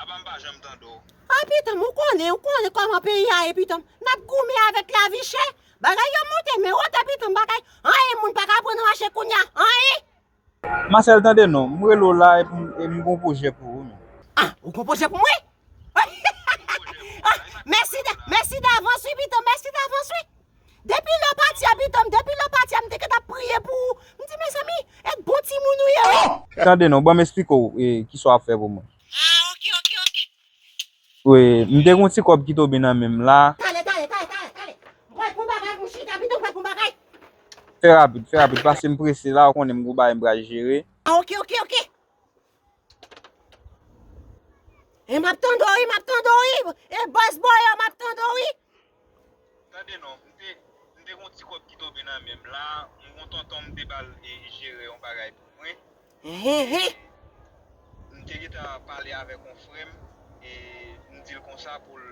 Aba m pa janm tande w. Ay pitanm ou konnen ou konnen kòman peyi a ye pitanm nap goumen avèk lavi chè bagay yo monte men wotè pitanm bagay anyen moun paka aprann an mache kounya anyen. Masèl tande non, m rele w la e m gon pwojè pou ou men. Ah ou gon pwojè pou mwen? Mèsi davans wi pitanm mèsi davans wi. Depi lè w pati a pitanm depi lè w pati a m te gentan ap priye pou ou m di mezanmi et bon timoun ou ye wi. Tande non, ban m esplike w ki sa w ap fè pou mwen. Ah ok ok ok. Wi, m te gen yon ti kòb ki tobe nan men m la. Tale tale tale tale tale m pral pran bagay pou m chita pitanm m pral pran bagay. Fè rapid fè rapid paske m prese la ou konnen m gen yon bagay m pral jere. Ah ok ok ok. E map tande w wi, map tande w wi, e bòs bò yo map tande w wi. Tande non, m te, m te gon ti kòb ki tonbe nan men m la, m gon tonton m te bal e jere yon bagay pou mwen. Ehehe. M te gentan pale avèk yon frè m e m di l konsa pou l,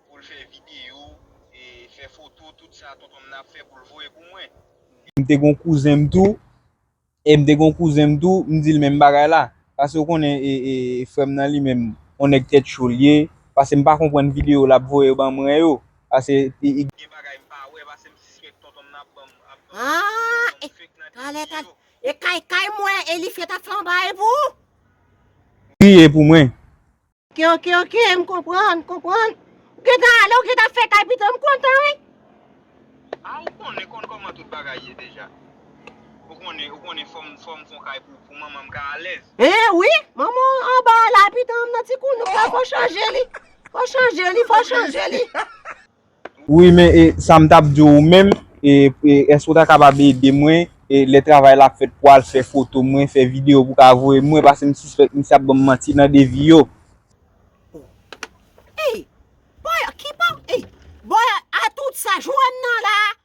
pou l fè videyo e fè foto tout sa tonton m nan ap fè pou l voye pou mwen. M te gon kouzen m tou. E m te gen yon kouzen m tou, m di l menm bagay la. Pase w konnen frè m nan li menm, yon nèg tèt cho l ye. Pase m pa konprann videyo l ap voye ban mwen yo. Pase gen bagay m pa wè, pase m sispèk tonton m nan ap ban bagay fake nan dènye jou yo. E kay kay m wè Eliphie t ap fè yon bagay pou ou? Priye pou mwen. Ok ok ok m konprann m konprann Ou gentan ale ou gentan fè kay pito m kontan wi. Ah ou konnen konn koman tout bagay ye deja ou konnen ou konnen fòm fòm fon kay pou pou manman m ka alèz. Eh wi manman w anba a la pitom nan ti kounou sa fò chanje li fò chanje li fò chanje li. Wi men sa m tap di w menm eske w ta kapab ede mwen lè travay la ap fèt pou al fè foto mwen fè video pou ka voye mwen paske m sispèk misye ap banm manti nan devi yo. Ey! Boy! Ki pa. Ey! Boy! A tout sa Johanna la!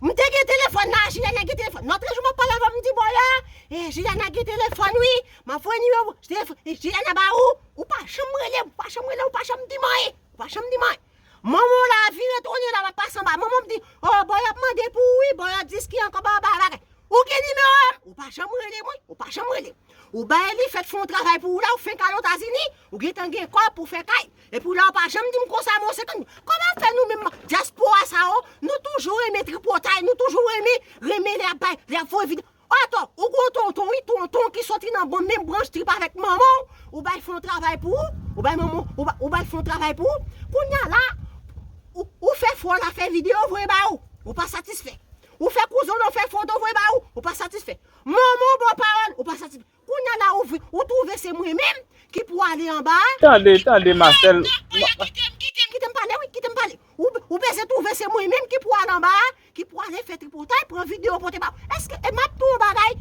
M te gen telefòn la, Jilyana gen telefòn. Lòtre jou m ap pale avè w, m di bò la, e Jilyana gen telefòn wi, m ap voye nimewo pou telefòn Jilyana ba ou, ou pa janm rele m, ou pa janm rele m, ou pa janm di m anyen, ou pa janm di m anyen. Manman w la vire tounen la, l ap pase anba, manman m di, o bò y ap mande pou ou wi, bò y ap di ski ankò ba ba bagay. Ou gen nimewo a m? Ou pa janm rele mwen, ou pa janm rele m. Ou bay Elifèt fè yon travay pou ou la, ou fenk al Etazini, ou gen tan gen kòb pou fè kay. Epi w la ou pa janm dim konsa mwen se tann koman fè nou menm diaspora sa yo nou toujou renmen tripotay nou toujou renmen renmen lè yap bay lè yap voye video ato ou gon tonton wi tonton ki soti nan bon menm branch trip avèk manman w ou bay fon travay pou ou ou bay manman w ou bay fon travay pou ou kounya la ou fè fò la fè video voye ba ou ou pa satisfè ou fè kouzen w nan fè foto voye ba ou ou pa satisfè manman w ba w pawòl ou pa satisfè Kounya la ouvri, ou twouve se mwen menm ki pou ale anba a? Tande, tande Masèl. Kitem, kitem, kitem, kitem, kitem pale wi, kitem pale. Ou beze twouve se mwen menm ki pou ale anba a, ki pou ale fè tripotay, pran video pote ba ou. Eske, e map di w yon bagay,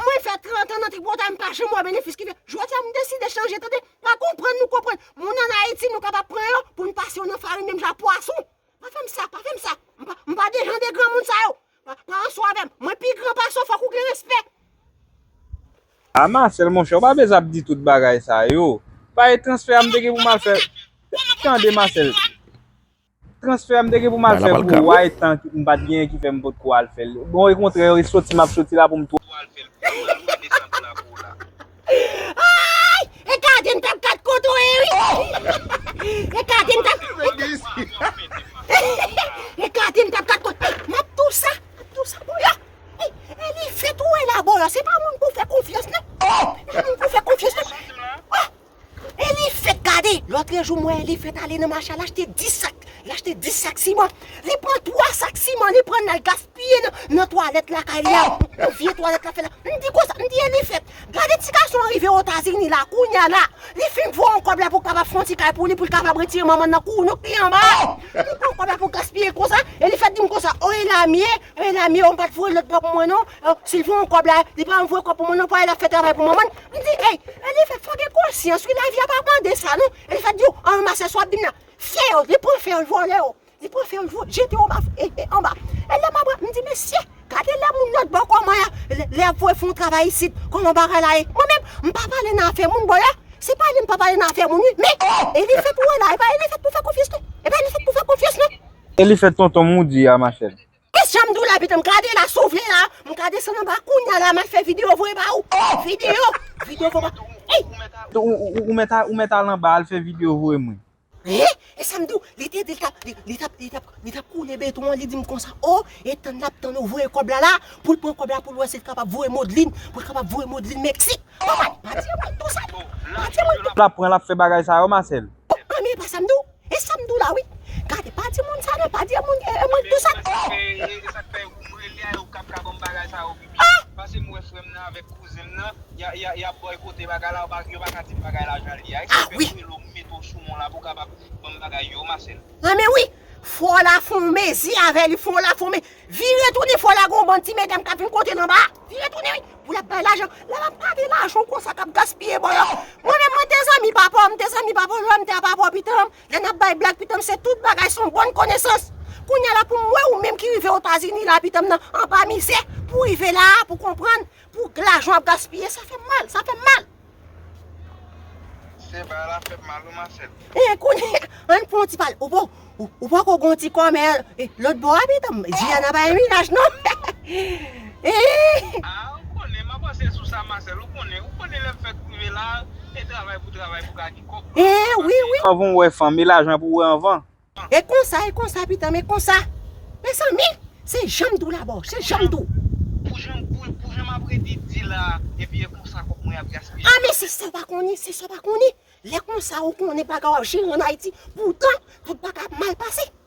mwen fè 30 an nan tripotay m pa janm wè benefis ki fè. Jodi a m deside chanje tande, pa konprann nou konprann. Moun an Ayiti nou kapab pran yo pou n pase yo nan farin menm jan ak pwason. Pa fè m sa, pa fè m sa. M pa, m pa de jan de granmoun sa yo. Pa, pa anso avè m. Mwen pi gran pase w, fòk ou gen respè. A Masèl monchè, ou pa bezwen ap di tout bagay sa yo. Pa e transfè a m te gen pou m al fè. Tande Masèl. Transfè a m te gen pou m al fè pou ou a e tan m pa t genyen ki fè m pot ko al fè l. Bon, e kontrè, e soti m ap soti la pou m. Heheheh! Ayy e kaden tap kat koto e wi e kaden tap e kaden tap kat koto map tou sa map tou sa pou yo e li fèt ou wè la bò yo se pa moun pou fè konfyans nan se pa moun pou fè konfyans nan e li fèt gade lotrejou m wè e li fèt ale nan mache a l achte 10 sak l achte 10 sak siman li pran 3 sak siman li pran l al gaspiye. Piye nan twalèt lakay li a pou vye twalèt la fè la. M di konsa, m di e li fèt. Gade ti gason an rive Otazini la, kounya la, li fin voye yon kòb la pou kapab fè yon ti kay pou li, pou l kapab retire manman l nan kou nou k pi anba a. Li pran kòb la pou l gaspiye konsa, e li fèk di m konsa, o Elamye, o Elamye, ou m pa t voye lòt bò pou mwen non, si l voye yon kòb la, li pa voye kòb pou mwen non, pou Ayla fè travay pou manman l. M di ey, e li fèt, fò w gen konsyans wi, lavi a pa mande sa non, e li fèk di yo, an ranmase sa w ap di m la, fè yo, li pran fè yo, l vòlè yo. Li pran fè yo jete yo anba. E lè m ap rap, m di mesye, gade lè moun lòt bò kòman y ap, lè y ap voye fè yon travay isit, kòman bagay la ye. Mwen menm, m pa pale nan afè moun, bòlò. Se pa li m pa pale nan afè moun wi. Men, e li fèt ou wè la, e pa e li fèt pou fè konfyans non. E pa e li fèt pou fè konfyans non. E li fèt tonton m ou di a ma chère. E jan m di w la pitit m, gade la si w vle la, m ka desann anba kounya la m al fè videyo voye ba ou. Videyo! Videyo voye ba ou. Ou mèt al anba al fè videyo voye mwen. Hein? E sam diw, li te di li tap li tap li tap li tap koule beton an li dim konsa oh e tann lap tann ou voye kòb la la poul pran kòb la poul wè sil kapab voye Modeline poul kapab voye Modeline Mexique Maman pa di mwen tou sa non pa di mwen tou Lap pran lap fè bagay sa yo Marcel. Oh anmyey pa sam diw e sam diw la wi gade pa di moun sa non pa di moun e mwen tou sa oh. Esak fè esak fè ou m rele a yo kap ka banm bagay sa yo. Pase m wè frè m nan avèk kouzen m nan, y ap bòykote bagay la, yo pa ka di m bagay la jan l ye a. Èske m fè relo m mete w sou mon la pou w kapab ban m bagay yo, Masèl? Anmè wi! Fò la fè yon mezi avè li, fò la fè yon mezi. Vire tounen fò la gen yon bann ti medam k ap vin kote l anba a. Vire tounen wi! Pou l ap bay lajan. Lè l ap gade lajan w konsa k ap gaspiye bò y a. Mwen menm mwen te zanmi papa w, m te zanmi papa w, lè m te a papa w pitan m. Lè nap bay blag pitanm se tout bagay son bòn konesans kounya la poum wè ou menm ki rive otazini la pitanm nan anba mizè pou rive la a pou konprann pou k lajan ap gaspiye sa fèm mal sa fèm mal. Sè bagay la fèm mal wi Marcel. Eeh kounya ann pran yon ti pale ou ou poko gon ti kòmè lòt bò a pitanm Diana pa yon minaj non eeh. Ah ou konnen map panse sou sa Marcel ou konnen ou konnen lèm fèk rive la e travay pou travay pou ka. Eeh wi wi. Fòk ou wè fanm e lajan pou wè anvan. E konsa e konsa pitanm e konsa mezanmi se janm di w la boo se janm di w. Pou jan pou jan map redi di la epi e konsa kòb mwen ap gaspiye. Ah men se sa w pa konnen se sa w pa konnen lè konsa ou konnen bagay w ap jere an Ayiti poutan tout bagay ap mal pase.